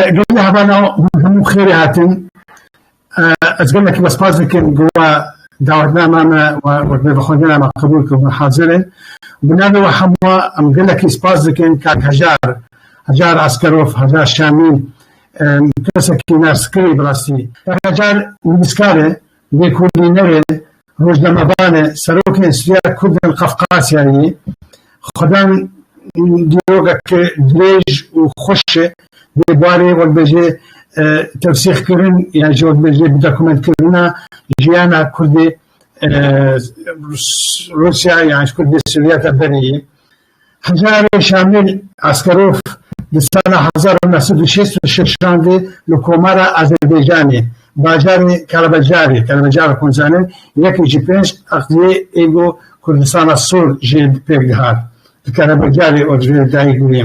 Gelê heval a hûn hemû xêrê hatin. Ez gelekî we spas dikim ku we dawetinama me we wek navxwendina me qebûl kir hûn hazir in. Bi navê we hemû em gelekî spas dikin kak Hejar, Hejar Askerov, Hejar Şamî kesekî nas kirî bi rastî. Kak Hejar nivîskar e, Lê Kurdî nebe rojnamevanê, serokên Siya Kurdên Qafqasyayê xwedên dîrokek dirêj û xweş dê barê wekbejê tewsîxkirin ya ji wekbejê bidokumentkirina jiyana Kurdê Rûsya yan ji Kurdê Sovyeta berê yê Hejarê Şamil Askerov di sala hezar û neh sed û şêst û şeş şandî li Komara Azerbaycanê, bajarê Kalabacarê, Kalabacar Xunzane, yekê ji pênc aqliyê ê ku Kurdistana Sor jê pêk dihat, di Kalabacarê û divê dayik bûye.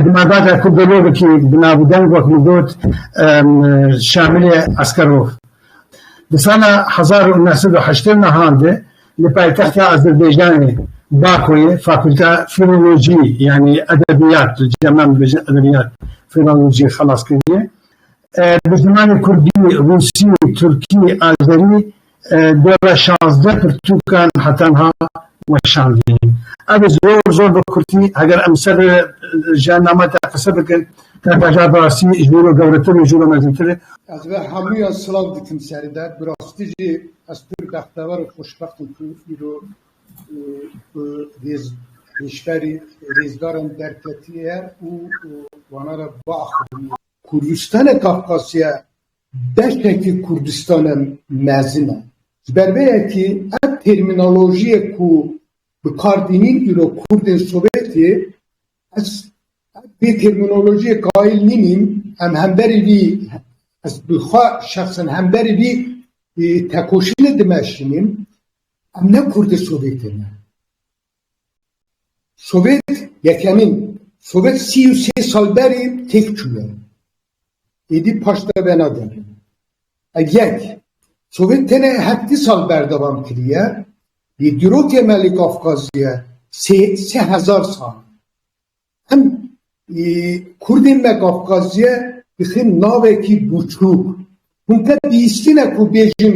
Di malbata kurdologekî bi nav û deng wek min got Şamilê Eskerov di sala hezar û neh sed û heştê mehan de li paytexta Azerbaycanê Bakoyê fakulta Filolojî yanî edebiyat tu dê me bibêjin edebiyat filolojî xelas kiriye. Bi zimanê kurdî, rûsî, tirkî, azerî Dora şazdeh pirtûkan heta niha weşandîn. Ev zor zor bi kurtî heger em ser ji nama te qise bikin, te bêje bi rastî ji wî re gewretir û ji wî re mezintir e. Ez ve hemûyan silav dikim serî de. Bi rastî jî ez pir bextewer û xweşbext im ku îro tu rêz hêşberî rêzdaran derketiye û wana re biaxivînî. Kurdistanê Kafkasya Beşekî Kurdistane mezin e. Ji ber vê yekî ev termînolojiyê ku bi kar tînîn îro Kurdên Sovêtê ez vê termînolojiyê kaîl nînîm em hemberî vî ez bi xwe şexsen hemberî vî tekoşînê dimeşînîm em ne Kurdê Sovêtê ne. Sovêt yekemîn Sovêt sî û sê sal berî têk çûye. Êdî paş te vena derê. Ev yek. Sovêt tenê heftî sal berdewam kiriye. Lê dîrokê me li Kafkaziyê sê sê hezar sal e. Em Kurdên me Kafkaziyê dixin navekî bûçûk. Hûn te bihîstîne ku bêjin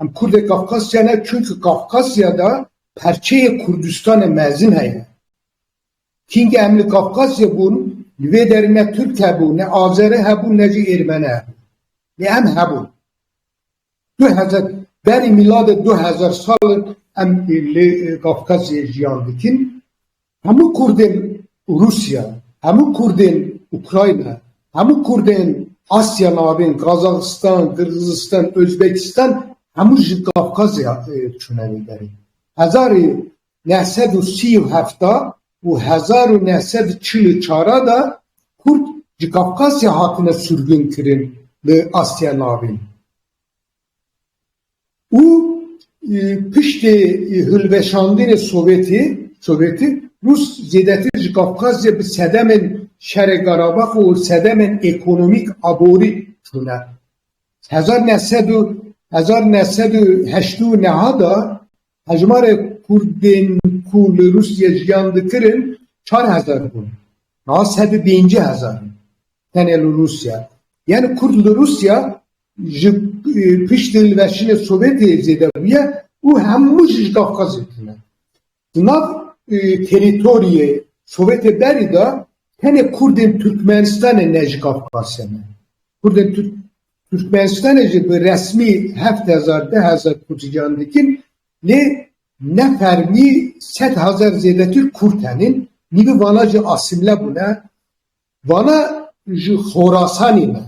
Em Kurdê Kafkasya ne çunki Kafkasya de perçeyê Kurdistanê mezin heye. Kîngê em li Kafkasya bûn li vê derê ne Turk hebû, ne Azeri hebû ne jî Êrmeni hebû. Lê em hebûn. Du hezar berî mîladê du hezar sal em li Kafkasyê jiyan dikin. Hemû Kurdên Rûsya, hemû Kurdên Ukrayna, hemû Kurdên Asya Navîn, Qazaxistan, Qirgizistan, Ozbekistan hemû ji Kafkazê çûne vê derê. Hezar û neh sed û sî û heft a û hezar û neh sed û çil û çar a de Kurd ji Kafkasya hatine sûrgûnkirin li Asya Navîn. û piştî hilweşandinê Sovyetî, Rûs zêdetir ji Kavkazê bi sedemên şerê Karabax û sedemên ekonomîk aborî çûne. Hezar neh sed û hezar neh sed û heşt û neh de Hejmarê Kurdên ku li Rûsyê jiyan dikirin çar hezar bûn, niha sedû pêncî hezar in tenê li Rûsya. Yani Kurd li Rûsya ji piştî liveşînê Sovyetê zêde bûye û hemû jî ji Kafkazê tune. Di nav terîtoriyê Sovyetê berî de tenê Kurdên Tirkmenistanê ne ji Kafkasê ne. Kurdên Tirkmenistanê jî bi resmî heft hezar, deh hezar Kurdî can dikin lê ne fermî sed hezar zêdetir Kurd henîn, nîvê vanan jî asîmle bûne. Vana ji Xorasanî ne,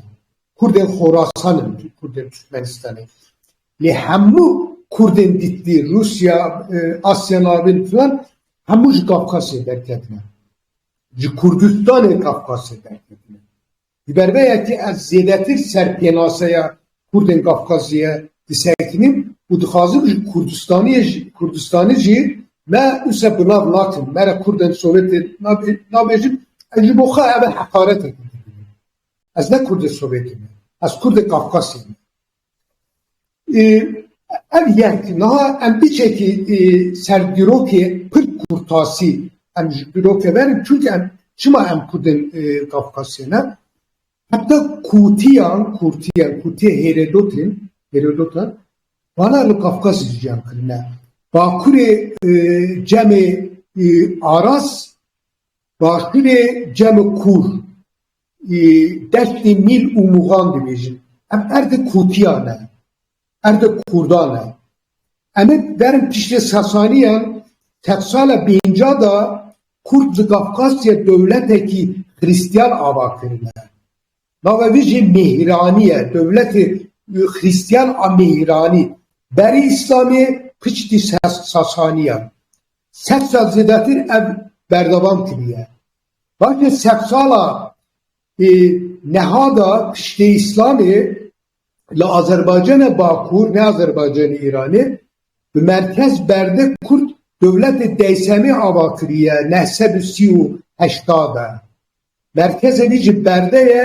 Kurdên Xorasan in Kurdên Tirkmenistanê. Lê hemû Kurdên dîtbî Rûsya, Asya Navîn filan hemû ji Kafkasê derketine. Ji Kurdistanê Kafkasê derketine. Di ber vê yekê ez zêdetir ser pênaseya Kurdên Kafkazê ye disekînim û dixwazim ji Kurdistanê jî me wisa bi nav nakin, me re Kurdên Sowêtê nabêjin, ez ji bo xwe ev e heqareteke dibînim. Ez ne Kurdê Sowêtê me, ez Kurdê Kafkasê me. Ev yek niha em biçekî ser dîrokê kurd kûrtasî em ji dîroke verin çunke em çima em kurd in Kafkasya ne heta kûtiyan kûrtiyan kûtiye hêredotên hêredotan vana li Kafkasê jiyan kirine bakurê cemê aras başûrê cemê kûr Destê mîl û mûxan dibêjin. Ev erdê kotiyan e. Erdê kurdan e. Em ê berin piştê Sasaniyan, sed sala pênca de kurd li Kafkasya dewletekî xirîstiyan ava kirine. Nava vê jê Mêhîranî ye. Dewletê xirîstiyan a Mêhîranî. Berî Îslamê piçtî Sasaniyan. Sed sal zêdetir ev berdewam kiriye. Belkî sedsala niha de piştî îslamê li Azerbaycana Bakur ne Azerbaycanê Îranê bi merkez berde Kurd dewletê Deysemê ava kiriye neh sed û sî û heşta de. Merkeze vî ji berde ye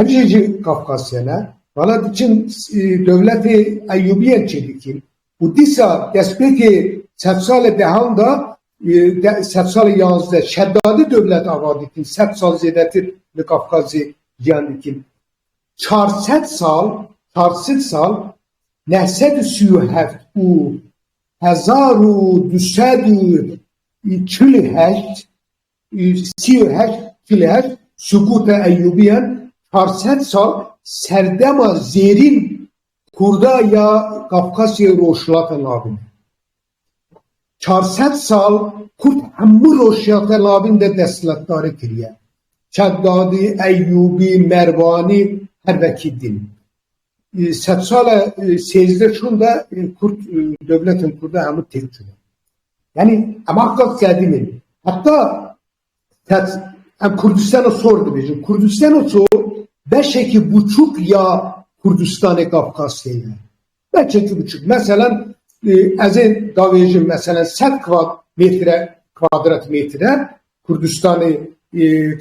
Ev jî ji Kafkasyan e. Vala tu çin dewletê Eyyûbiyan çêdikîn û dîsa destpêkê sed sal e dehan da sed sal yazdeh şedadi dewlet ava dikîn sed sal zêdetir li Kafkazê jiyan dikîn çar sed sal çar sed sal neh sed û sî û heft û hezar û du sed û çil û heşt Sî û heşt kileh sukûta Eyyûbiyan çar sed sal serdema zêrîn Kurda ya Kafkasya Rojhilata Lavîn e. Çar sed sal Kurd hemû Rojhilata Lavîn de destletdarî kiriye. Çekdadî, Eyyûbî, Mervanî her vekî din. Sed sala sêzdeh çûn de Kurd dewletên Kurd de hemû têk çûne. Yanî em axda sedîmê heta sed em Kurdistana sor dibêjin. Kurdistana sor beşekî buçûk ya Kurdistanê Kafkasê ye. Beşekî buçûk. Meselen ez ê davêjim meselen sed kvat mêtre kwadrat mêtre Kurdistanê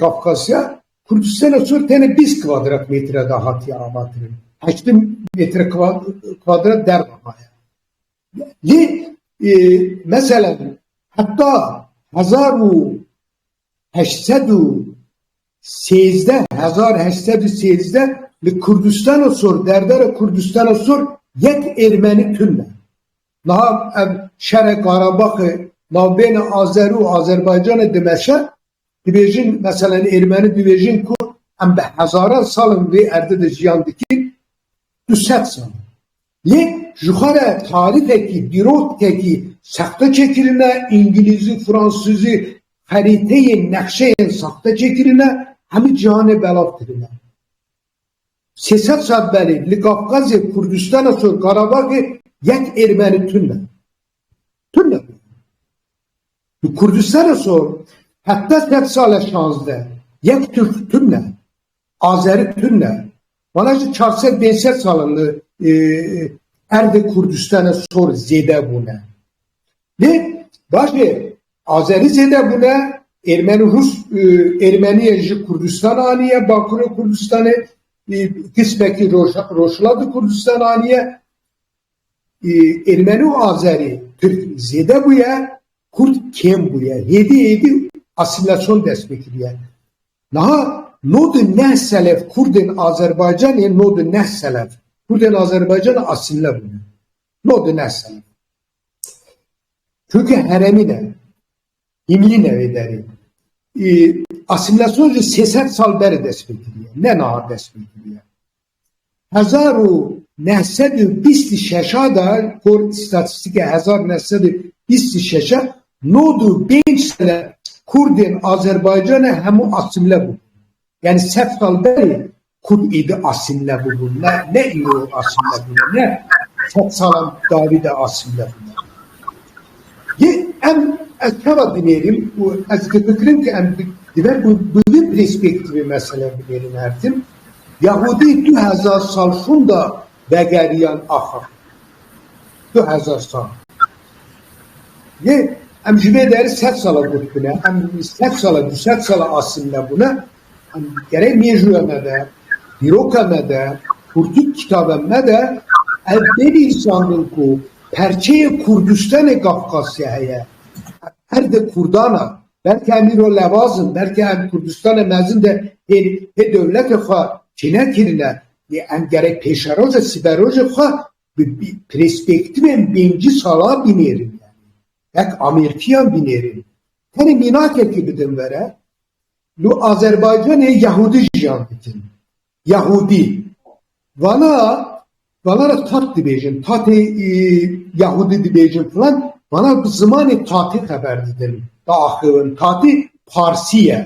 Kafkasê Kurdistana Sor tenê bîst kwadratmetre de hatiye avakirin, heşt metre kwadrat derve maye. Lê mesela heta hezar û heşt sed û sêzdeh hezar heşt sed û sêzdeh li Kurdistana Sor derdera Kurdistana Sor yek êrmenî tune. Niha ev şere Qarabaxê navbêne Azer û Azerbaycanê dimeşe Dibêjin meselen êrmeni dibêjin ku em bi hezaran sal li vê erdê de jiyan dikin du sed sal e. Lê jixwe re tarîfekî, dîrotkekî sexte çêkirine, îngilîzî, fransîzî, xerîteyên, nexşeyên sexte çêkirine, hemû cîhanê belav kirine. Sê sed sal belê li Kafkazê, Kurdistana Sor, Karabaxê yek êrmeni tune. Tune bû. Tu Kurdistana so hevdeh sed sal e şazdeh yek Tirk tune, Azeri tune, wana jî çar sed pênc sed sal e li erdê Kurdistana sor zêde bûne. Lê başê Azerî zêde bûne, Êrmenî Rûs Êrmenîye ji Kurdistana anîye, Bakurê Kurdistanê, qismekî Rojhilata Kurdistana anîye. Ermeni û Azerî Tirk zêde bûye, Kurd kêm bûye. Hêdî hêdî asîmîlasyon dest pê kiriye. Niha nod û neh selef Kurdên Azerbaycanê nod û neh selef Kurdên Azerbaycanê asîmîle bûne. Nod û neh selef. Çunke heremî ne. Hîmîlî ne wê derê. Asîmîlasyon jî sê sed sal berê dest pê kiriye. Ne niha dest pê kiriye. hezar û neh sed û bîst û şeş a de kor îstatîstîkê hezar û neh sed û bîst û şeş e nod û pênc sale kurdên Azerbaycanê hemû asîmle bûbûn. Yanî sed sal berê kurd êdî asîmle bûbûn ne ne îro asîmle bûne ne sed salan dawî de asîmle bûne. Yê em ez çawa dinêrîm û ez difikirim ke em dibe bi bi vî perspektîvê meseleyê binêrîm her tim. Yehûdî du hezar sal şûnda vegeriyan axir. Du hezar sal. Lê em ji vê derê sed sala gotikine, em sed sala, du sed sala asimîle bûne. Em gerek mêjoya me de, dîroka me de, kurtik kitaben me de ev bênivîsandin ku perçeyê Kurdistanê Kafkasya heye. Ev erd e kurdan a. Belkî em îro lewaz in, belkî em Kurdistanê mezin de pê dewleta xwe tîne kirine, lê em gerek pêşerojê, sibêrojê xwe bi perspektîvên pêncî sala bînêrin, wek amîrtiyan bînêrin. Tenê mînakekî bidin were, li Azerbaycanê yehûdî jiyan dikin, Yahûdî, vana vana re tat dibêjin, tatê Yahûdî dibêjin filan, vana bi zimanê tatî xeber didin, diaxivin. Tatî Parsî ye.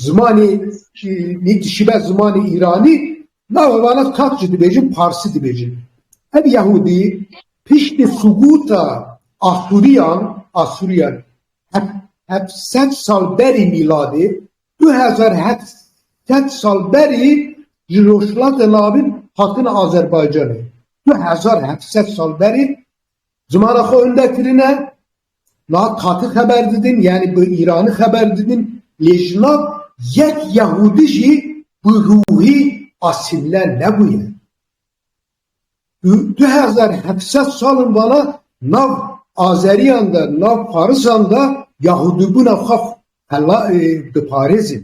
Zimanê nî dişibe zimanê Îranî, nawe vana tat jî dibêjin, Parsî dibêjin. Ev Yahûdî piştî subûta Asûriyan, Asûriyan heft sed sal berî mîladê Du hezar û heft sed sal berî ji Rojhilatê Navîn hatine Azerbaycanê. Du hezar û heft sed sal berî zimana xwe wende kirine, niha Tatî xeber didin yanî bi Îranî xeber didin lê ji nav yek Yehûdî jî bi ruhî asîmle nebûye. Di du hezar û heft sed salên vala nav azeriyan de, nav farisan de yahûdîbûna xwe diparêzin.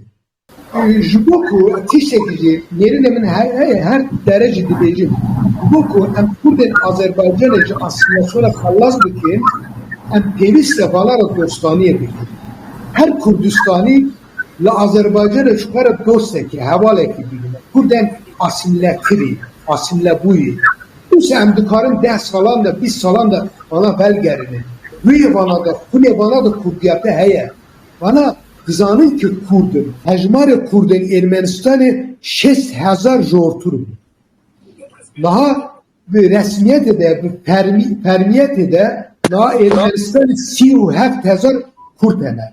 Ji bo ku tiştekî jî nêrînê min heye her dere jî dibêjim, ji bo ku em kurdên Azerbaycanê ji asîlasyona xelas bikin em pêwîst e vala re dostaniyê bikin. Her kurdistanî Li Azerbaycanê ji xwe re dostekî, hevalekî bînime. Kurdên asîmîletirî, asîmîlebûyî. Dîsa em dikarin deh salan de, bîst salan de vana velgerînin. Wê vana de, xwînê vana de kurdîya te heye. Vana dizanin ke kurd in. Hejmarê kurdên Ermenistanê şêst hezar ji ortûr bû. Niha bi resmîyetê de, bi fermîyetê de niha Ermenistanê sî û heft hezar kurd hene.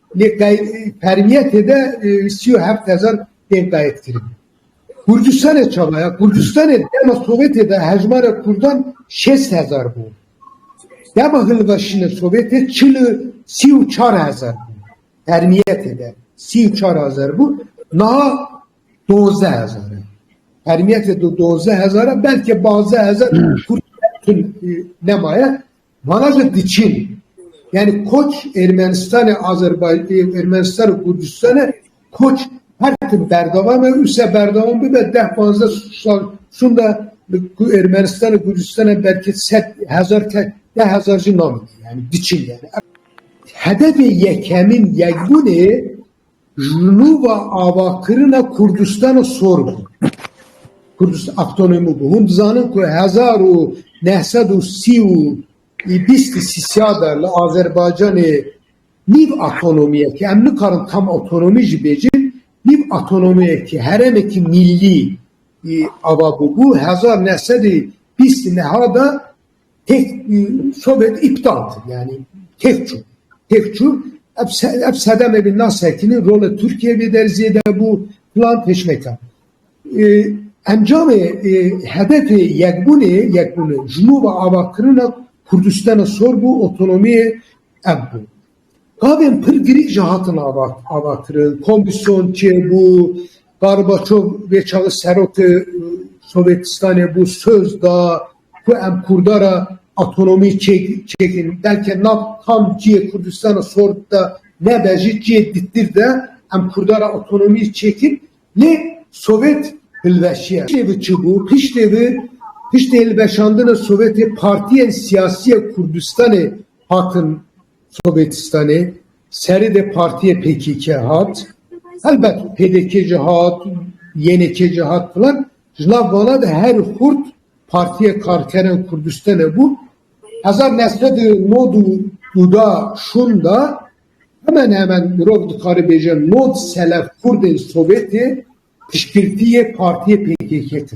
Lê fermiye tê de sî û heft hezar tên qeydkirin. Kurdistanê çaba ya? Kurdistanê dema Sovyetê de hejmara kurdan şêst hezar bû. Dema hilweşîna Sovyetê çil û sî û çar hezar bû. Fermiye tê de sî û çar hezar bû. Niha dozde hezar e. Fermiye tê de dozde hezar e belkê bazde hezar kurd nemaye. Vala jî diçîn. Yanî koç Ermenistanê, Azerbaycanê û Ermenistan û Kurdistanê koç her tim berdewam e û se berdewam bibe deh panzdeh sal şûnde ku Ermenistan û Kurdistanê belkî sed hezar kes deh hezar jî namîne yanî diçîn yanî. Hedefê yekemîn yekbûnê Ji nûva avakirina Kurdistana sor bû. Kurdistan avtonomî bû. Hûn dizanin ku hezar û neh sed û sî û bîst li Sîsya de li Azerbaycanê nîv avtonomiyekî, em nikarin tam avtonomî jî bêjin, nîv avtonomiyekî, herêmekî mîllî ava bûbû. Hezar neh sed û bîst û neha de Têk sobet îptal kir yanî têk çû. Têk çû ev sedemê bi nas sekinî rola Tirkiyeyê bê der zêde bû filan pêşneka. Encamê hedefê yekbûnê yekbûnê ji nû ve avakirina Kurdistana sor bû otonomiyê ev bû. Gavên pir girîng jî hatin avakirin. Komîsyon çê bû, Garbaçov vê çaxê serokê Sovetistanê bû, söz da, Ku em Kurda re otonomî çêkirîn, belke nav tam cihê Kurdistana sor de nebe jî cihê dîtir de em Kurda re otonomî çêkir lê Sovêt hilweşiye. Piştê vê çi bû? Piştê vê, piştê hilweşandina Sovêtê partiyên siyasî ya Kurdistanê hatin Sovêtistanê. Serê de partiyê pkk hat. Helbet pdk jî hat, ynk jî hat filan. Ji nav vana de herî xurt, Partiya Karkerên Kurdistanê bû hezar neh sed û nod û du da şûnda hemen hemen mirov dikare bêje nod selef Kurdên Sovêtê piştgirtiyê partiyê pkk kirin.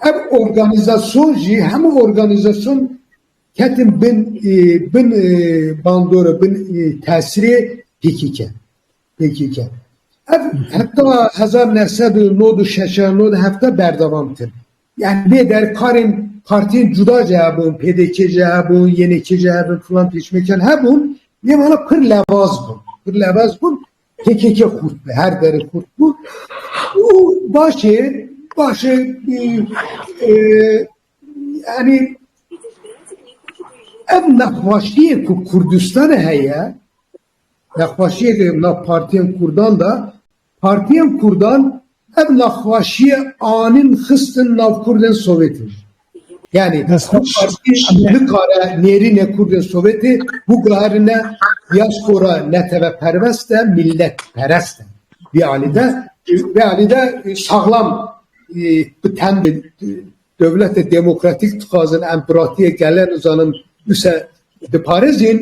Ev organîzasyon jî hemû organîzasyon ketin bin bandora bin tesirê pkk. pkk. Ev heta hezar neh sed û nod û şeş nod û heft e berdewam kir. Yani bê der karên partiyên cuda jî hebûn, pdk jî hebûn, YNK jî hebûn, filan pêşmekan hebûn. Lê wana pir levaz bûn. Pir levaz bûn. PKK xurt bi. Her dere xurt bû. Û başê başê yani ev nexwaşiyê ku Kurdistanê heye nexweşiyê li nav partiyên kurdan de, partiyên kurdan ev nexweşiyê anîn xistin nav kurdên sovêtê jî. Yanî ev partî nikare nêrînê kurdên sovêtê biguherîne dîaspora neteweperwest e, mîletperest e. Vê alî de vê alî de saxlam bi tem bi Dewletê demokratîk dixwazin em bi rastiyê gelen û zanin wisa diparêzin.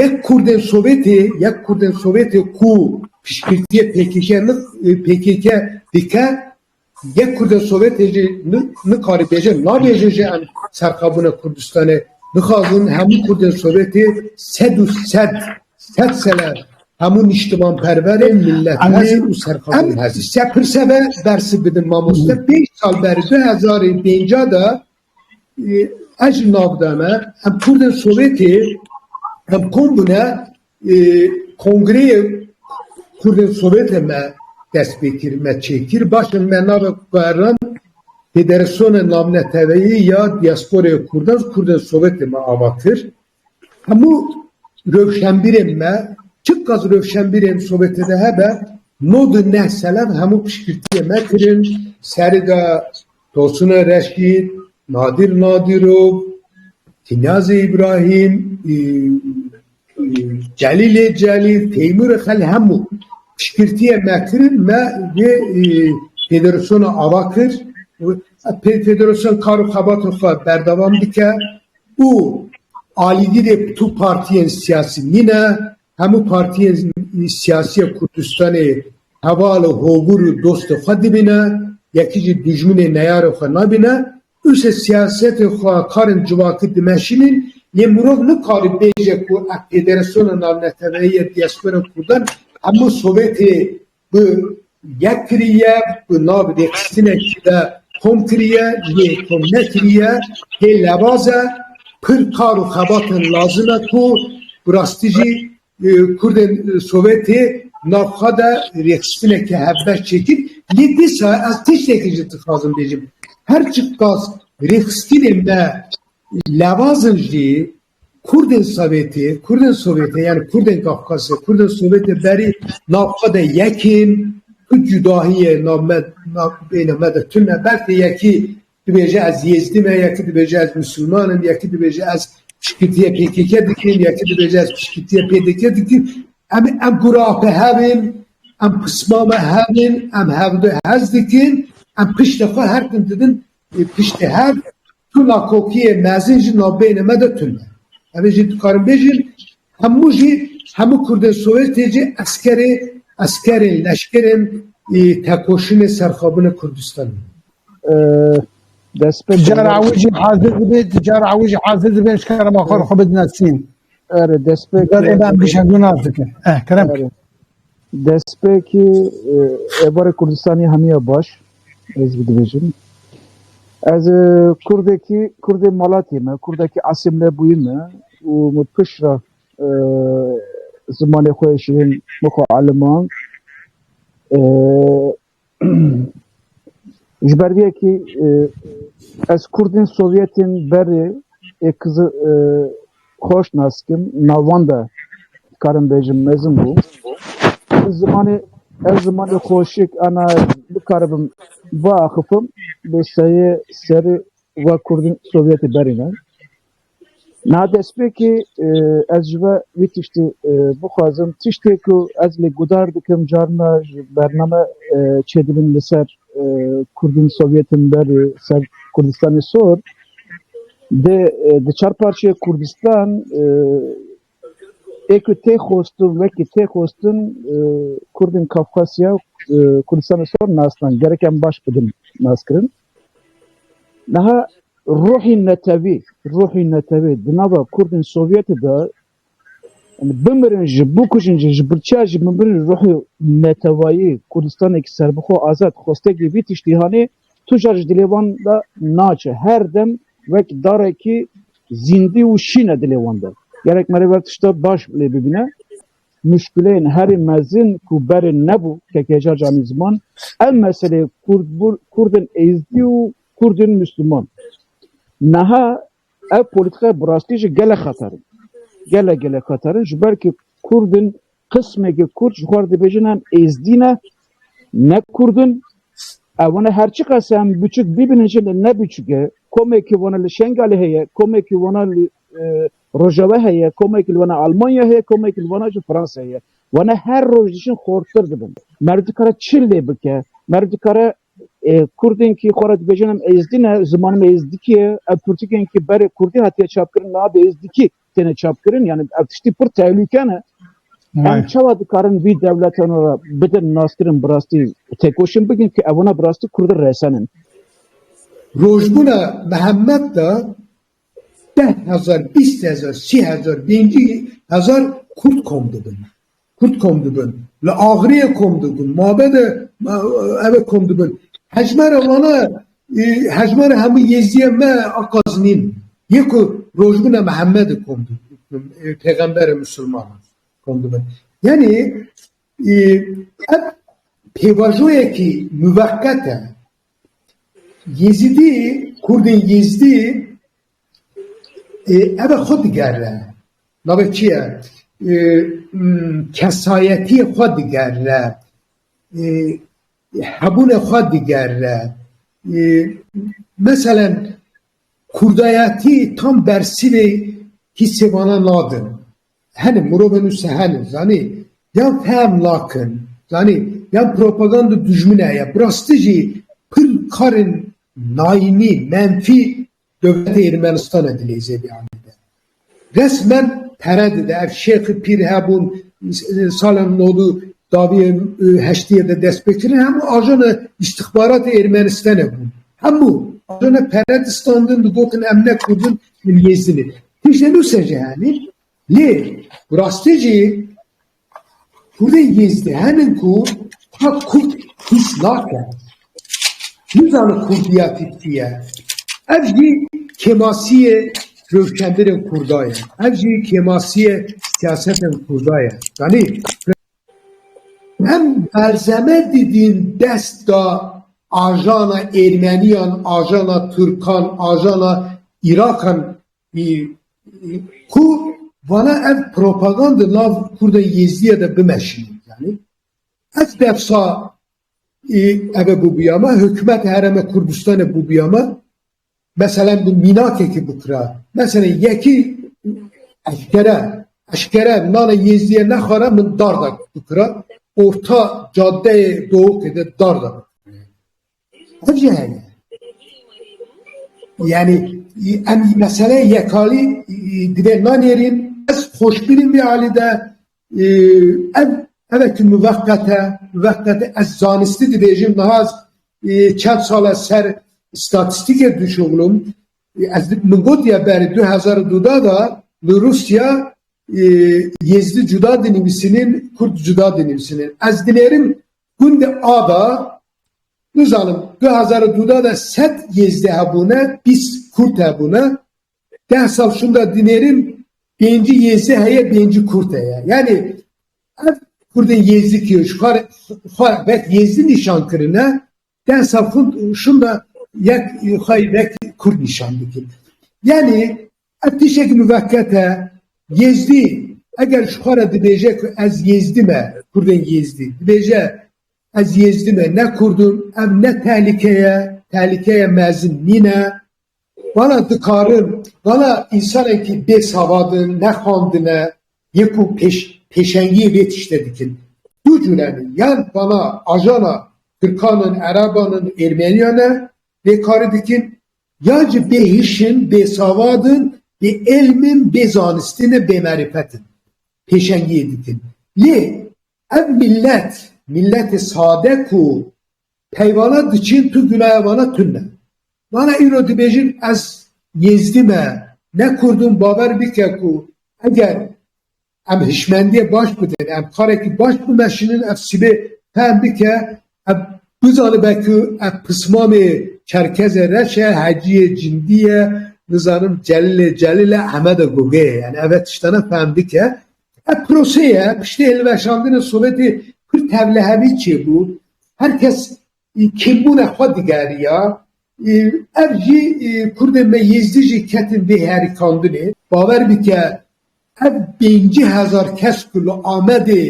Yek Kurdên Sowêtê yek Kurdên Sowêtê ku piştgirtiyê pkk pkk dike, yek Kurdên Sowêtê jî nikarî bêje nabêje jî em serxabûna Kurdistanê dixwazin. Hemû Kurdên Sowêtê sed û sed Sed sele hemû nîştimanperverên milletmezin û serxwebûn hezin. Em se pirse ve bersi bidin mamoste. Pênc sal ber du hezar ê pênca de ez ji nav de me em kurdên Sowêtê em kom bûne kongreyê kurdên Sowêtê me dest pê kir me çêkir baş in me navê kueran Federasyon namneteveyê ya diasporê kurdan kurdên Sowêtê me ava kir. Hemû rewşenbîrên me, çiqas rewşenbîrên Sovêtê de hebe, no du neh selen hemû piştgirtiyê me kirin, serê de Tosune Reşîd, Nadîr Nadîrov, Tînazê Îbrahîm, Celîlê Celîl, Teymûrê Xel hemû piştgirtiyê me kirin, me vê federasyona ava kir û federasyona kar û xebatên xwe berdewam dike. û alîgirê bi tu partiyên siyasî nîne, hemû partiyên siyasî ya Kurdistanê heval û hovûr û dostê xwe dibîne, yekî jî dijminê neyarê xwe nabîne. Ûse siyasetê xwe karên civakî dimeşînîn, lê mirov nikare bêje ku ev federasiyona navneteweyî ya dîyaspora kurdan hemû sovêtê ku yek kiriye ku navê lêxistinê ji de kom kiriye yê kom nekiriye hê lewaz e pir kar û xebatên lazim e ku bi rastî jî kurdên sowetê nav xwe de rêxistineke hevbeş çêkir lê dîsa ez tiştekî jî dixwazim bêjim her çiqas rêxistinên me lewaz in jî Kurdên Sewêtê, Kurdên Sovêtê yanî Kurdên Kafkasê, Kurdên Sovêtê berî nav xwe de yek ên tu cudahiyê nav me nav bêyna me de tune ber tê yekî dibêje ez Yêzdî me yekî dibêje ez Misliman im yekî dibêje ez pişkirtiyê PKK dikim yekî dibêje ez pişkirtiyê PDK dikim em em gurate hev ên em qisma me hev ên em hev de hez dikin em piştê xwe her tim didin Piştî her tuna kokiyê mezin jî navbeyînê me de tun e. Ev ê jî dikarin bêjin hemû jî hemû kurdên Sowêtê jî eskerê eskerên leşkerên ê tekoşînê serxwebûnê Kurdistan in. Despê Cara gonor ew jî hazir dibe, cara ew jî hazir dibe ji kerema xwe re xwe bidine Sîn. Ere despê Gar ê me em gonor gişandû nas dikin. Eh kerem. ere Destpêkê ê barê Kurdistanê hemiya baş ez bi dibêjim. Ez Kurdekî, Kurdê malatê me, Kurdekî asîmle bûyî me û min piştre zimanê xwe yê şîrîn min xwe elimand. Ji ber vê yekê ez Kurdên Sovyetên berê ê Kizil xweş nas dikim, nav wan de dikarim bêjim mezin bû. Ev zimanê ev zimanê xweşik ana bikaribim biaxifim bi seyê serê we Kurdên Sovyetê berê ne. Niha destpêkê ez ji we wî tiştê bixwazim, tiştê ku ez lê guhdar dikim carina ji bername çêdibin li ser Kurdên Sovyetên berê ser Kurdistanê sor dê di çar parçeyê Kurdistan ê ku tê xwestin wekî tê xwestin Kurdên Kafkasya û Kurdistanê sor nas dan. Gerek em baş bidin naskirin. Niha ruhî netewî, ruhî netewî di nava Kurdên Sovyetê de yani bimirin jî, bikujin jî, ji birçiya jî bimirin ruhî netewayî, Kurdistanekî serbixwe û azad, xwestekî vî tiştî hanê, tu car ji dilê wan de naçe. Her dem wek darekî zîndî û şîn e dilê wan de. Gelek mere ver tişta baş lê bibîne. muşkileyên herî mezin ku berê nebû kekeja canî ziman ev meseleyê kurdên êzdî û kurdên misliman niha ev polîtîkaya bi rastî jî gelek xeter in. Gelek gelek xeter in ji ber ku kurdên qismekî kurd ji xwe re dibêjin em êzdî ne, ne kurd in ew ne her çiqas em biçûk bîbin jin ne biçûk e komekî wan li Şengalê heye komekî wan li Rojeve heye, komekî li wana Almanya heye, komekî li wana jî Fransayê ye. Wana her roj dijîn xortir dibin. Merv dikare çi lê bike? Merv dikare Kurdên kî xwe re dibêjin em êzdî ne, zimanim êzdikî ye, ev pirtûkên kî berê kurdî hatiye çapkirin niha bi êzdikî têne çapkirin yanî ev tiştî pir tehlûke ne. Em çawa dikarin vî dewleta nû re bidin naskirin bi rastî têkoşîn bikin ku ev wana bi rastî Kurdi resenin. Rojbûna Mihemed de deh hezar, bîst hezar, sî hezar, pêncî hezar Kurd kom dibin. Kurd kom dibin. Li Axiriyê kom dibin. Mabe de ev kom dibin. Hejmera wana hejmera hemû Yêzdiyê me aqazinîn. Yê ku rojbûna Mihemedê kom dibin. Pêxemberê Misilman kom dibin. Yanî ev pêvajoyekî muveqqet e. Yêzîdî, Kurdên Yêzdî ev xwe digerin, navê çi ye? Kesayetiyê xwe digerine, hebûnê xwe digerine. Meselen kurdayetî tam bersivê hîsê wan nadin. Hene mirovên wisa hene zanî yan fehm nakin zanî yan propaganda dijmin e ya bi rastî jî pir karên nayînî menfî dewleta Ermenistana dileyze vê alî de. Resmen pere dide ev şêxi pîr hebûn sala nodû daviyê heştiyê de dest pê kirin hemû ajana îstixbaratê Ermenistana bûn. Hemû ajana pere distandin digotin em ne kurdin min yêzini. Tiştê nu sece hemî lê rastê jî Kurdê yêzdî hemin ku ha Kurd hîs nake. Nizane Kurdiya tîpkî ye. Ev jî kêmasiyê rewşenbirên Kurda ye. Ev jî kêmasiyê siyasetên Kurda ye. Zanî? Em berzeme didîn desta ajana Êrmeniyan, ajana Tirkan, ajana Îraqan ku vana ev propaganda nav Kurda Yêzdiya de bimeşînin. Yanî ev defsa eve bûbûya me, hikûmeta Herêma Kurdistanê bûbûya me. Meselen di mînakekî bikira. Meselen yekî eşkere eşkere nana Yêzdiye nexwara min dar da bikira. Orta cadeyê Dowokê de dar da bikira. Ev jî heye. Yani em mesele yekalî divê nanêrîn ez xweşbînim vê alî de Ev ev ki muveqete muveqete ez zanistî dibêjim niha çend sal ez ser statîstîkê dişuxulum ez min gotiye berê 2002 da li Rûsya Yêzdî cuda dinivîsînin Kurd cuda dinivîsînin ez dinêrim gundê A da nizanim 2002 da de sed Yêzdî hebûne bîst Kurd hebûne Deh sal şunda dinêrin pêncî yêzî heye pêncî kurd heye. Yanî ev kurdên yêzî ki xwe vek yêzî nîşan kirine deh sal şunda yek xwe vek kurd nîşan bikin. Yanî ev tişek muvekket e yêzdî eger ji xwe re dibêje ku ez yêzdî me kurdên yêzdî dibêje ez yêzdî me ne kurdim ev ne tehlîkeye tehlîkeye mezin nîne. Vala dikarin, vala însanekî bê savat in, ne xandin e, yê ku pêş pêşengiyê vê tiştê dikin. Du cure ne, yan vala ajana tirkan in, ereban in, êrmeniyan e vê karî dikin, yan jî bê hîş in, bê savat in, bê ilm in, bê zanistî ne, bê merîfet in pêşengiyê dikin. Lê Ev mîllet, mîlletê sade ku peyvana diçin tu gunaya wana tune. Wana îro dibêjin ez Yêzdî me, ne Kurd im bawer bike ku eger em hişmendiyê baş bidin, em karekî baş bimeşinin ev sibê fehm bike, ev bizanibe ku ev pismamê Çerkezê reş e, Heciyê Cindî ye, nizanim Celilê Celil e, Ehmede Gogê ye. Yanî ev tiştane fehm bike. Ev proseye piştî hilweşandina Sowetê Kurd tevlihevî çêbû, her kes kêmbûna xwe digeriya, ev jî Kurdên me Yêzdî jî ketin vê herikandinê. Bawer bike ev pêncî hezar kes ku li Amedê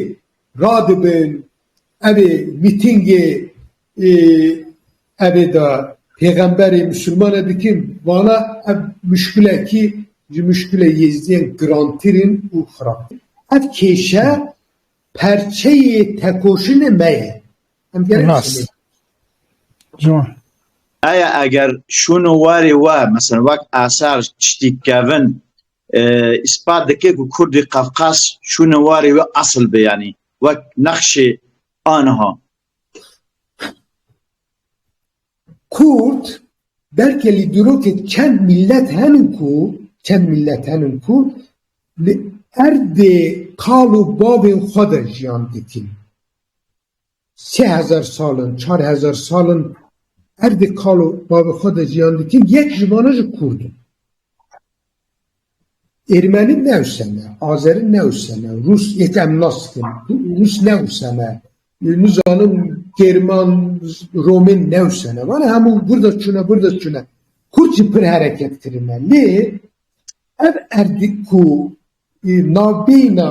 radibin, ev ê mîtîngê Ê evê de pêxemberê misilman e dikin, vana ev muşkilekî ji muşkilê Yêzdiyan girantir in û xirabtir. Ev kêşe perçeyê tekoşinê me ye. Em gerek Nas. Ciwan. Aya eger şûn û warê we mesela wek asar tiştî kevin îspat dike ku Kurdî Qafqas şûn û warê we asl be yanî wek nexşê aniha Kurd belkî li dîrokê çend mîllet henin ku çend mîllet henin ku li erdê kal û bavên xwe de jiyan dikin. Sê hezar sal in, çar hezar sal in erdê kal û bavê xwe de jiyan dikin, yek ji wan jî kurd in. Ermeni ne useme, Azeri ne useme, Rus yê ke em nasitin Rus ne useme, nizanim German, Romên ne useme. Vana hemû burda çûne burda çûne. Kurd jî pir hereket kirine. Lê ev erdî ku navbeyna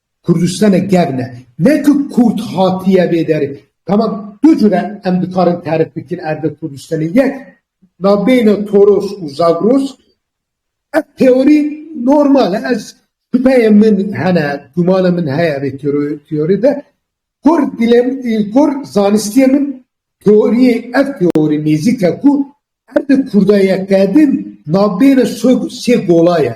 Kurdistanek gev ne. Ne ku Kurd hatiye vê derê. Tamam du cure em dikarin terif bikin erdê Kurdistanê. Yek navbeyna Toros û Zagros. Ev teorî normal e. Ez şubeyê min hene, gumana min heye vê teorî de. Kur dilem kur zanistiyê min teoriyê ev teorî nêzîk e ku erdê Kurda ye qedîm navbeyna sê gola ye.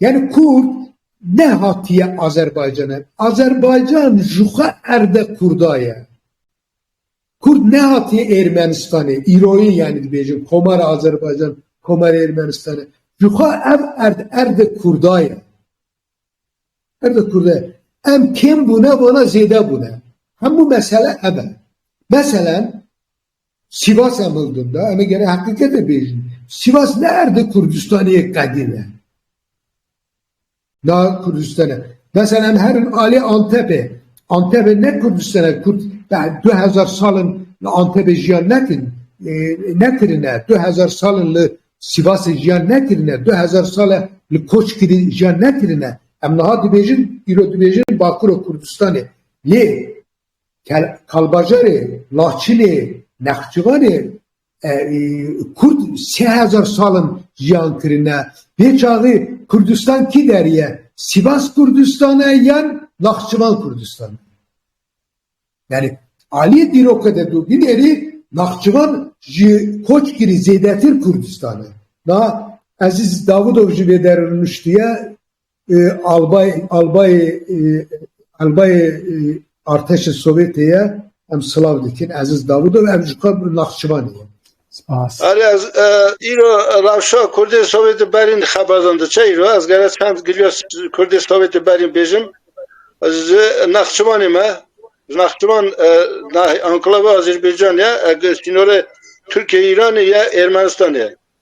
Yani Kurd ne hatiye Azerbaycan'e. Azerbaycan ji xwe erde Kurda ye. Kurd ne hatiye Ermenistan'e. Îroyê yani dibêjin Komara Azerbaycan, Komara Ermenistan'e. Ji xwe ev erd erde Kurda ye. Erde Kurda ye. Em kêm bûne vana zêde bûne. Hemû mesele ev e. Meselen Sivas em hildin da, em ê gere heqîqetê bêjin. Sivas ne erdê Kurdistanê yê qedîm e. Na Kurdistan e. Mesela em herin alê Antepê. Antepê ne Kurdistan e. Kurd du hezar salin li Antepê jiyan nekin. Nekirine. Du hezar salin li Sivasê jiyan nekirine. Du hezar sal e li koç kirî jiyan nekirine. Em niha dibêjin, îro dibêjin Bakuro Kurdistanê. Lê Kalbajarê, Laçinê, Nexçivanê Kurd sê hezar sal in jiyan kirine. Pê çaxê Kurdistan kî derê ye? Sivas Kurdistan e yan Naxçivan Kurdistan e? Yanî aliyê dîroke de tu binêrî Naxçivan ji koç kirî zêdetir Kurdistan e. Niha Ezîz Davûdov ji vê derve nuştiye. Albayê Artêşê Sowêtê ye em silav dikin Eziz Davûdo em ji xwe naxçivanê ye. Spas. Arê ez îro rewşa kurdên Sowêtê berîn xebedan diçe îro ez gere çend giliya kurdên Sowêtê berîn bêjim ez ji Naxçivanê me ji Naxçivan enclave Azerbaycan ye sînorê Tirkiye Îranê ye Ermenistanê ye.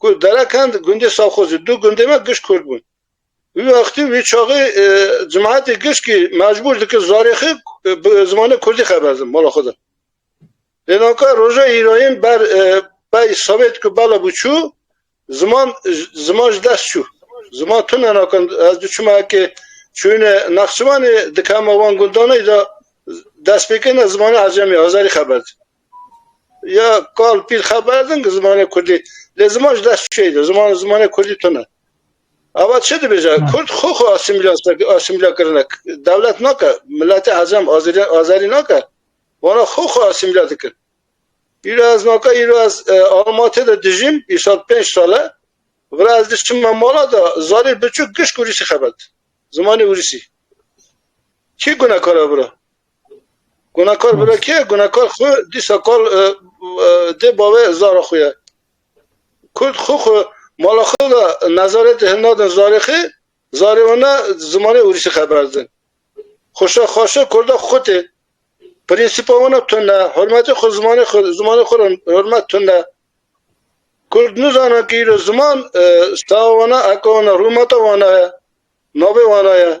Kurd dere kend gundê Safxozê du gundê me giş kurd bûn. Wî wextî wî çaxê cemaetê giş kî mecbûr dikir zarê xi bi zimanê kurdî xeber din mala xwe de. Lê naka roja îrayîn ber bey savêt ku bela bû çû ziman ziman ji dest çû. Ziman tune naka ez du çima ekê çûyine Nexçivanê dikema wan gundanê de destpêkêne zimana ecemî azerî xeber din. Ya kal pîl xeber din ki zimanê kurdî lê ziman ji dest çêyî de ziman zimanê kurdî tune. Ava çi dibêje kurd xwe xwe asîmîla kirine dewlet nake miletê ecem azerî azerî nake wana xwe xwe asîmîla dikin. Îro ez naka îro ez Almatê de dijîm îsal pênc sal e vira ez diçim me mala de zarî biçûk gişt ûrîsî xebet zimanê ûrîsî. Kî gunekar e vira? Gunekar bila kê? Gunekar xwe dîsa kal dê bavê zara xwe ye. Kurd xwe xwe mala xwe de nezaretê hin nadin zarê xwe, zarê wan ne zimanê ûrîsî xeber din. Xweşa xweşa kurda xwe tê. Prînsîpa wan tund e, hurmetê xwe zimanê xwe zimanê xwe re hurmet tund e. Kurd nizane ku îro ziman stava wan e, heka wan e, rûmeta wan e, navê wan e.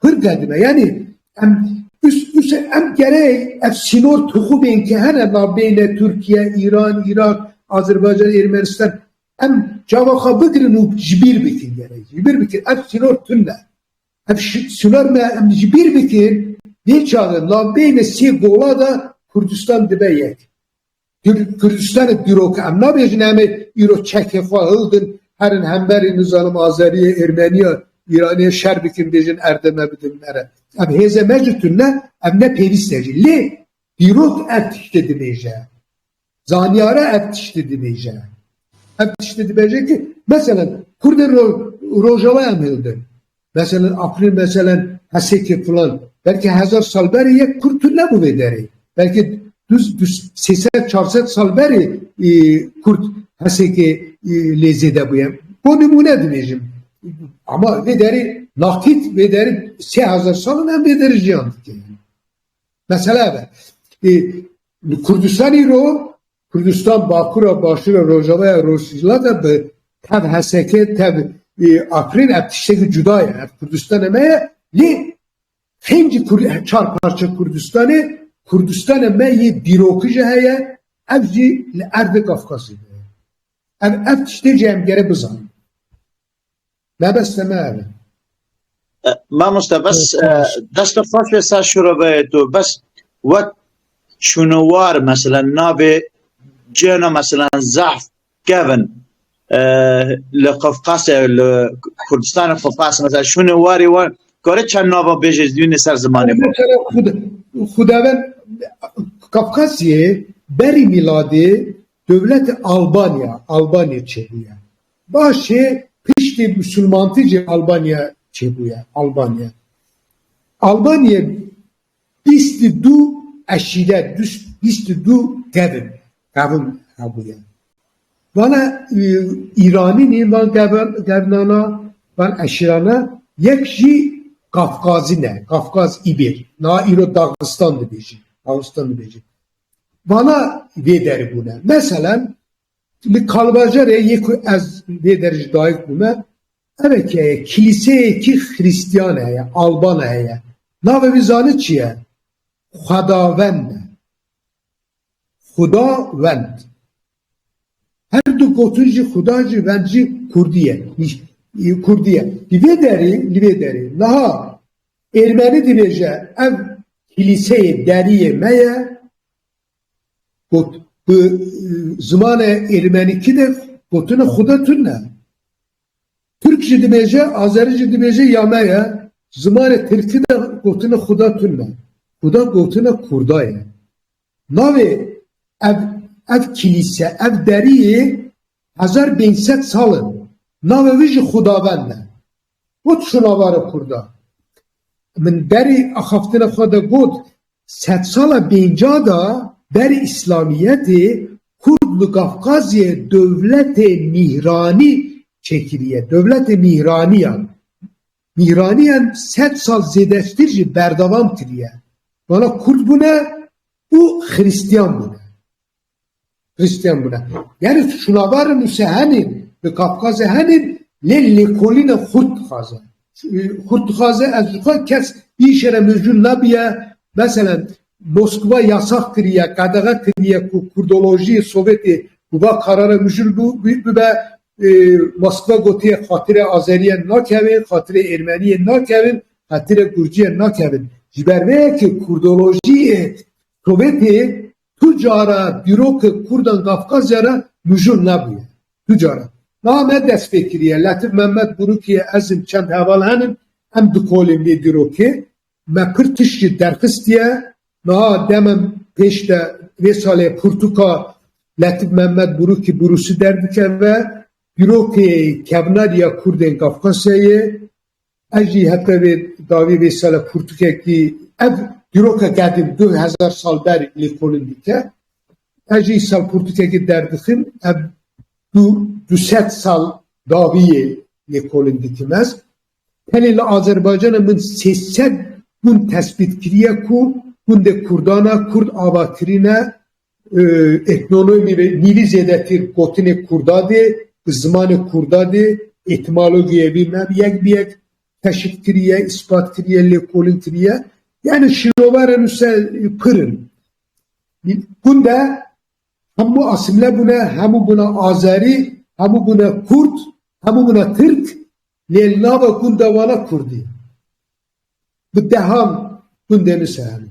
Kurd e dime yanî em ûs em gerê ev sînor tixûbên ke hene navbêne Tirkiye, Îran, Îraq, Azerbaycan, Ermenistan em çawa xwe bigirin û ji bîr bikin gerê ji bîr bikin ev sînor tund e. Ev sînor me em ji bîr bikin dê çawa navbêne sê gola de Kurdistan dibe yek. Kurdistanê dîrok em nabêjin em ê îro çekê xwe hildin herin hemberî nizanim Azeriyê, Ermeniya, Îraniyê şer bikin bêjin erdê me bidin mere. Ev hêzê me jî tune ev ne pêvîst e jî. Lê dîrok ev tiştê dibêje. Zanyara ev tiştê dibêje. Ev tiştê dibêje ki meselen Kurdên Rojava em hildin. Meselên Afrin meselên Hesekê filan belkî hezar sal berê yek kurd tu nebû vê derê. Belkî sê sed çar sed sal berê kurd Hesekê lê zêde bûye. Bo nimûne dibêjim. Ama vê derê nakît vê derê sê hezar salin em vê derê jiyan dikin. Mesela be. Kurdistanî ro Kurdistan bakura başura rojavaya rojhilal de bi tev HSK tev Afrin ev tiştekî cuda ye. Ev Kurdistanê me ye lê pêncî çar parça Kurdistanê Kurdistanê me yê dîrokî jî heye ev jî li erdê Kafkasê de ye. Ev ev tiştê jî em gere bizanin. Me bes te me ev e. Mamoste bes deste xweş ve ser şureveyê to bes wek şûnewar mesela navê cêna mesela zehf kevin li Qafqasê li Kurdistanê Qafqas mesela şûnewarê wan kare çend nava bêjê zînê ser zimanê Xudaven Qafqasiyê berî mîladê dewlete Albanya Albanê çêbûye. Başê piştî misilmantî jî Albanya çêbûye. Albanya Albaniyê bîst û du eşîret, bîst û du kevin, kevin hebûye. Vana Îranîn ê van kevnana, van eşîrana yek jî Kafkazî ne, Kafkaz Îbêr. Niha îro Daxistan dibêjin, Daxistan dibêjin. Vana vê derê bûne. Meselen Li Kalbajarê yê ku ez lê der ji dayik bûme eve ke ye kilîseyekî xirîstiyan heye alban heye navê wî zanî çi ye xwedawend e xuda wend her du gotin jî xuda jî wend jî kurdî ye kurdî ye li vê derî li vê derî niha êrmenî dibêje ev kilîseyê deriyê me ye Got, bi zimanê êrîmenîkî de gotine Xuda tune ye. Tirk jî dibêje, Azerî jî dibêje ya me ye. Zimanê tirkî de gotine Xuda tune ye. Xuda gotine Kurda ye. Navê ev ev kilîse, ev deriyê hezar bêyîn sed sal in. Navê wî jî Xudavend e. Got Şonavara Kurda, Min berî axaftina xwe de got, sedsala pêncî de berî îslamiyetê Kurd li Kafkaziyê dewletê mîhranî çêkiriye, dewletê mîhraniyan, mîhraniyan sed sal zêdetir jî berdewam kiriye, wana Kurd bûne û xirîstiyan bûne. Xristiyan bûne. Yani şûlavarên û sehenên li Kafkazê hene lê lêkolîna xurt dixwaze. Xurt dixwaze ez dixwe kes îşê re mijûl nabiye meselen Moskva yasax kiriye, qedexe kiriye ku kurdolojiyê Sovyetê bi va karara mijûl bibe Moskva gotiye xatirê Azeriyan nakevin, xatirê Êrmeniyan nakevin, xatirê Gurciyan nakevin. Ji ber vê yekê kurdolojiyê Sovyetê Tu cara dîrok Kurdan Kafkasya re mijûl nebûye. Tu cara. Niha ne destpêkiriye. Letîf Mehmet Gurûkiye ez im çend heval henin em dikolîn vê dîrokê. Me pir tişt jî derxistiye. Niha demem pêş de vê salê pirtûka Letîf Mehmet Gurûkî bi rûsî derdikeve. Dîrokê kevnariya Kurdên Kafkasyayê Ez jî hete vê dawî vê sele pirtûkekî ev dîrokek hatî du hezar sal ber li kolin dîte. Ez jî sel pirtûkekî derdixim ev du du sed sal dawî yê lê kolin dîtim ez. Pelê li Azerbaycanê min sê sed gund tespît kiriye ku gundê Kurdan e, Kurd ava kirîne Etnologê ve nîvî zêdetî gotinê kurda dê, bi zimanê kurda dê, etîmologîyê vî me yek bi yek keşif kiriye, îspat kiriye, lêkolîn kiriye. Yanî şîrovara nûse pir in. Hûn de hemû asîmle bûne, hemû bûne azerî, hemû bûne kurd, hemû bûne tirk lê li nava gunda wan a kurdî. Bi dehan gundên nûse hene.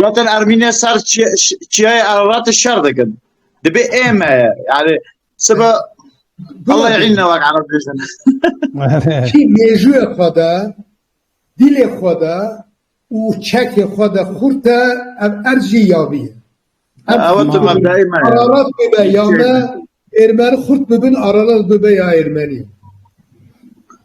Zaten Ermîne ser çiyayê Ereratê şer dikin. Dibê ême ye. Yani sibe Allah yîn ne wek Ereb bêjin. Kî mêjûyê xwe de, dîlê xwe de û çekê xwe de xurt e ev erd jî yavî ye. Ew tu mebdayê me ye. Ererat bibe ya me Êrmeni xurt bibin aralan bibe ya Êrmenî.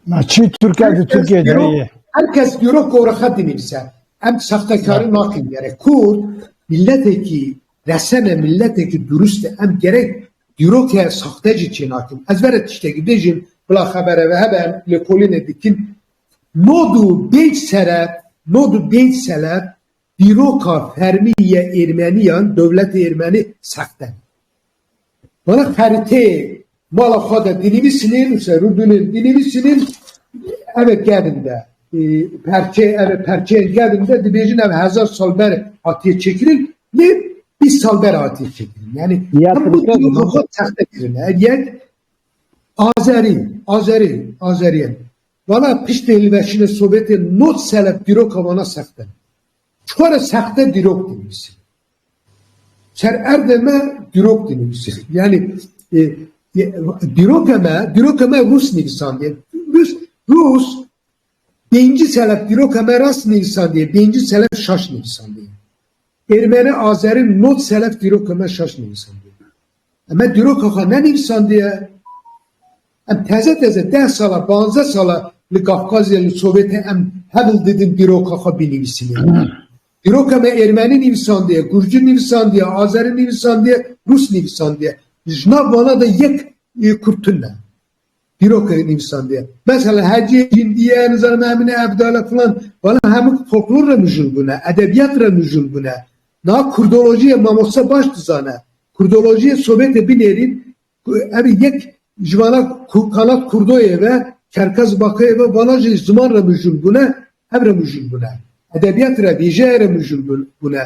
Na çî Tirke di Tirkiyê de ye. Her kes dîrok gorixet dinivîse. Em sextekari nakin gerek. Kurd miletekî resene miletekî durust e. Em gerek dîroke sexte jî çênakin. Ez vera tiştekî bêjim bila xebere ve hebe em lêkolînê dikin. Nod û bêj sere nod û bêj sele dîroka fermî yê êrmeniyan dewletê êrmenî sexte. Wala xeritê mala xwe de dinivîsinê nûse rû binin dinivîsinên ev kevin de perçe ev perçeyên kevin de dibêjin ev hezar sal ber hatiye çêkirin lê bîst sal ber hatiye çêkirin yani hemû dîroka xwe texte kirin ev yek azerî azerî azeriyen Valla piştê hilveşînê Sovyetê not selef dîroka wana sexte Çiqo re sexte dîrok dinivîsî. Ser erdê me dîrok dinivîsî. Yanî dîroka me, dîroka me rûs nivîsandiye. Rûs, rûs pêncî selef dîroka me rast nivîsandiye, pêncî selef şaş nivîsandiye. Êrmeni, azeri not selef dîroka me şaş nivîsandiye. Em me dîroka xwe nenivîsandiye. Em teze teze deh sala, panzdeh sala li Kafkazya, li Sovêtê em hewl didin dîroka xwe bînivîsinê. Dîroka me êrmenî nivîsandiye, gurcî nivîsandiye, azerî nivîsandiye, rûs nivîsandiye. Ji nav vana de yek kurd tune. Dîrok e nivîsandiye. Mesela hecê, hindiye, nizanim emine, evdal e filan. Bala hemû folklor re mijûl bûne, edebiyat re mijûl bûne. Niha kurdolojiyê mamoste baş dizane. Kurdolojiyê Sovyetê binêrîn ku ev yek ji vala kala kurdoyê ve, kerkez bakayê ve vala jî ziman re mijûl bûne, ev re mijûl bûne. Edebiyat re, vîjeyê re mijûl bûne.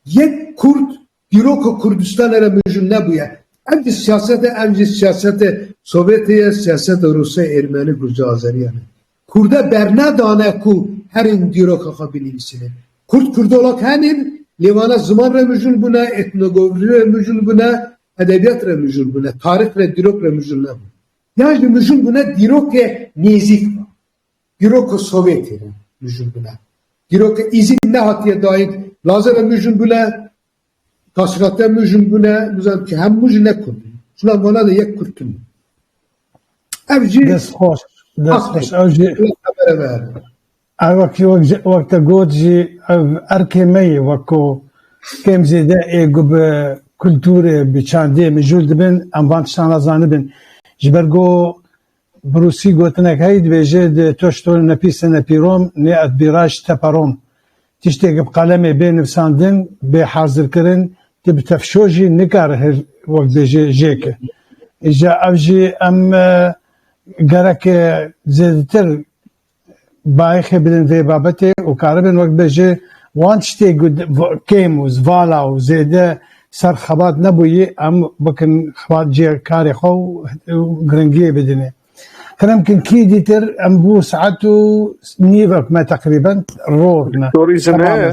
Yek kurd Dîrok ku Kurdistanê re mijûl nebûye. Ev jî siyasete, ev jî siyasetê Sovyetê ye, siyasetê Rûsê, Ermeni, Gurcê, Azeriyan e. Kurde bernedane ku herîm dîroka xwe binivîsîne. Kurd Kurdolog henîn, lê wana ziman re mijûl bûne, etnogovrî re mijûl bûne, edebiyat re mijûl bûne, tarîx re, dîrok re mijûl nebûne. Yan jî mijûl bûne dîrokê nêzîk ve. Dîroka Sovyetê re mijûl bûne. Dîroka Îzîd nehatiye dayîn. Laze re mijûl bûne, Taşrate mijûl bûne, bizan ki hem mij ne Kurd in. Jina mala de yek Kurd tune. Ev jî Dest xweş. Dest xweş. Ew jî ev wekî wek te got jî ev erkê me yê wek ku kêm zêde ê ku bi kulturê, bi çandê mijûl dibin em van tiştan re zanibin. Ji ber ku Bi rûsî gotinek heye dibêje di to şto ne pîse ne pîrom, nê et bîraş te perom. Tiştêk bi qalemê bê nivsandin, bê hazirkirin, ti bi tefşo jî nikare hil wek bêje jê ki. Îja ev jî em gerek zêdetir bayixê bidin vê babetê û karibin wek be ji wan tiştê ku kêm û zvala û zêde ser xebat nebûyî em bikin xebat cê karê xwe û giringiyê bidinê. Xenem kin kî dîtir em bû saet û nîvek me teqrîben ror me. Torîzme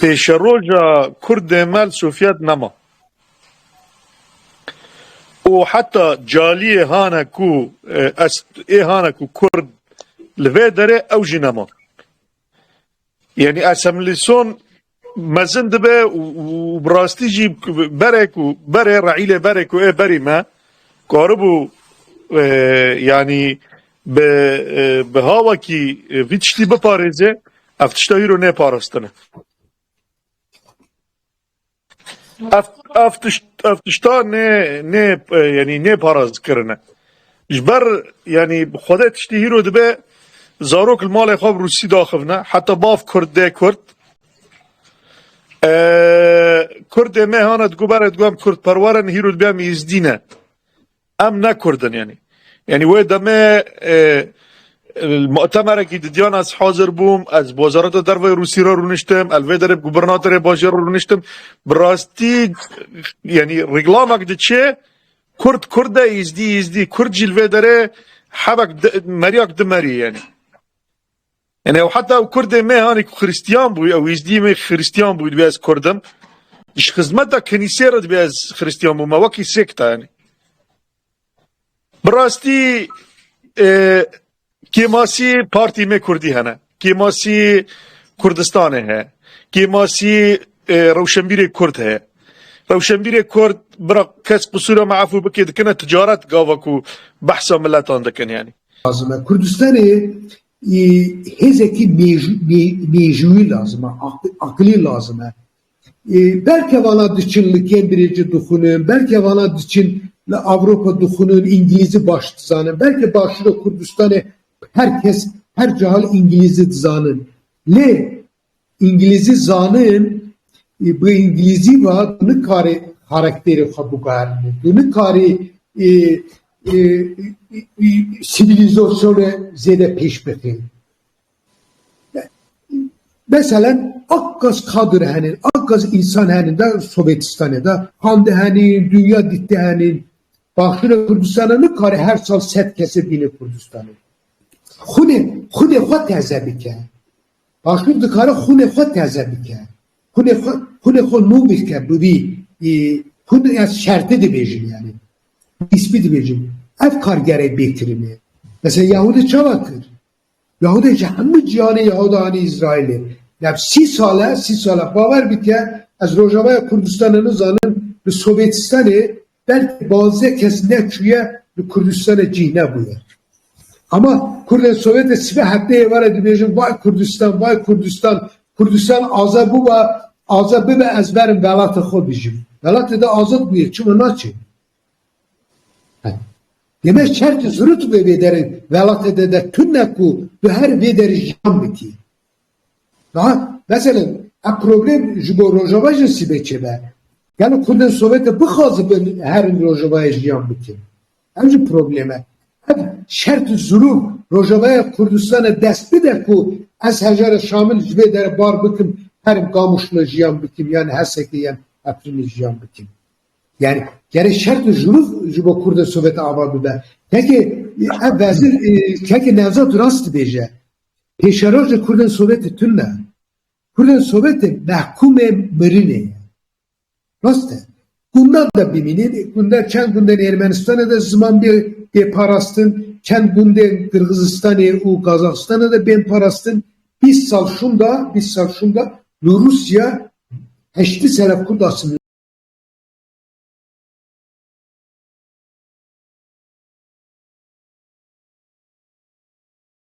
Pêşeroja Kurdê me li Sofyet nema. Û heta caliyê hane ku ez ê hane ku Kurd li vê derê ew jî nema. Yanî esemlîson mezin dibe û bi rastî jî berê ku berê reîlê berê ku ê berî me karibû yanî Bi bi hawakî vî tiştî biparêze ev tişta îro ne parastine. Ev ev tişt ev tişta ne ne yanî ne paraz kirine. Ji ber yanî xwede tiştî hîro dibe zarok li malê xwe bi rûsî daxivne heta bav kurd dê kurd. Kurdê me hane digobere diguem kurdperwerin hîro dibe em îzdî ne. Em ne Kurd in yanî. Yanî wê demê li mutemerekî di Diyana ez hazir bûm, ez bi Wezareta Derve ya Rûsî re rûniştim, ez li vê derê bi gubernatorê bajêr re rûniştim. Bi rastî yanî rîklamek diçe Kurd Kurd e, Îzdî Îzdî, Kurd jî li vê derê hevek di merîyak di merî yanî. Yanî ew heta ew kurdê me hanê ku xirîstiyan bû, ew êzdîyê me xirîstiyan bû dibê ez kurd im. Ji xizmeta kenîseyê re dibê ez xirîstiyan bû me wekî sêkta yanî. Bi rastî kêmasî partî me kurdî hene. Kêmasî Kurdistanê heye. Kêmasî rewşenbîrê kurd heye. Rewşenbîrê kurd bira kes qisûra me efû bike dikine ticaret gava ku behsa miletan dikin yanî. Lazim e Kurdistanê hêzekî mêjûyî lazim e, aqilî lazim e. Belke vana diçin li Cambridge dixwînin, belke vana diçin li Ewropa dixwînin, îngilîzî baş dizanin. Belke başûra Kurdistanê her kes her cihal îngilîzî dizanin. Lê Îngilîzî zanin ê bi îngilîzî ve tu nikarî xarakterê xwe biguherînî, tu nikarî sîvîlîzasyonê zêde pêş bixînî. Meselen a qas kadir henên, a qas însan henên de Sovêtistanê de xwendî henên, dinya dîtî henên. Başûra Kurdistanê nikarî her sal sed kesê bîne Kurdistanê. Xwinê xwinê xwe teze bike. Başûr dikare xûnê xwe teze bike, xûnê xwe xûnê xwe nû bike bi vî hûn ez şertê dibêjin yanî nîspî dibêjin ev kar gere bêkirin e. Mesela Yahûdê çawa kir? Yahûdê ji hemû cîhanê Yahûda anî Îsraîlê. Dev sî sal e, sî sal e bawer bike ez Rojavaya Kurdistanê nizanim li Sovêtistanê Belkî bazê kes neçûye li Kurdistanê cîh nebûye. Ama Kurdên Sovyetê sibe heftê yê were dibêjin vay Kurdistan, vay Kurdistan, Kurdistan azad bûba, azad bibe ez berim welatê xwe bijîm. Welatê de azad bûye çima naçê? Deme şertê zirût bibe vê derê welatê de de tune ku tu her vê derê jiyan bikî. Niha mesela ev problem ji bo Rojava jî sîbê çêbe. Gelo kurdên Sovêtê bixwazibin herin Rojavayê jiyan bikin? Ev jî problem e. Ev şert û zirûv Rojavaya Kurdistanê dest bide ku ez hejara Şamil ji vê dere bar bikim herim Kamûşlo jiyan bikim yan Hesekê yan Efrînê jiyan bikim. Yani gerê şert û zirûv ji bo kurdên Sovêtê ava bibe. Kekê ev vezir kekê Nevzad rast dibêje. Pêşerojê kurdên sovêtê tune ye. Kurdên sovêtê mehkûmê mirinê ye. Rast e. Gundan de bimînin, gundan çend gundên Ermenistanê de ziman bê bê parastin, çend gundên Qirgizistanê û Qazaxistanê de bên parastin. Bîst sal şûnda, bîst sal şûnda li Rûsya heştî sere kurd asimîle bûn.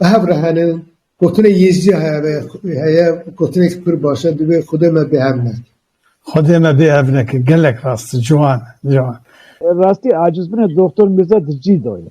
Bi hev re henin. Gotinê Yêzîdî heye, gotinê ku pir baş e, divê Xwedê me bêhev neke. Xwedê me bêhev neke, gelek rast e, ciwan e, ciwan. Rastî aciz bine Doxtor Mîrza di cî de ye.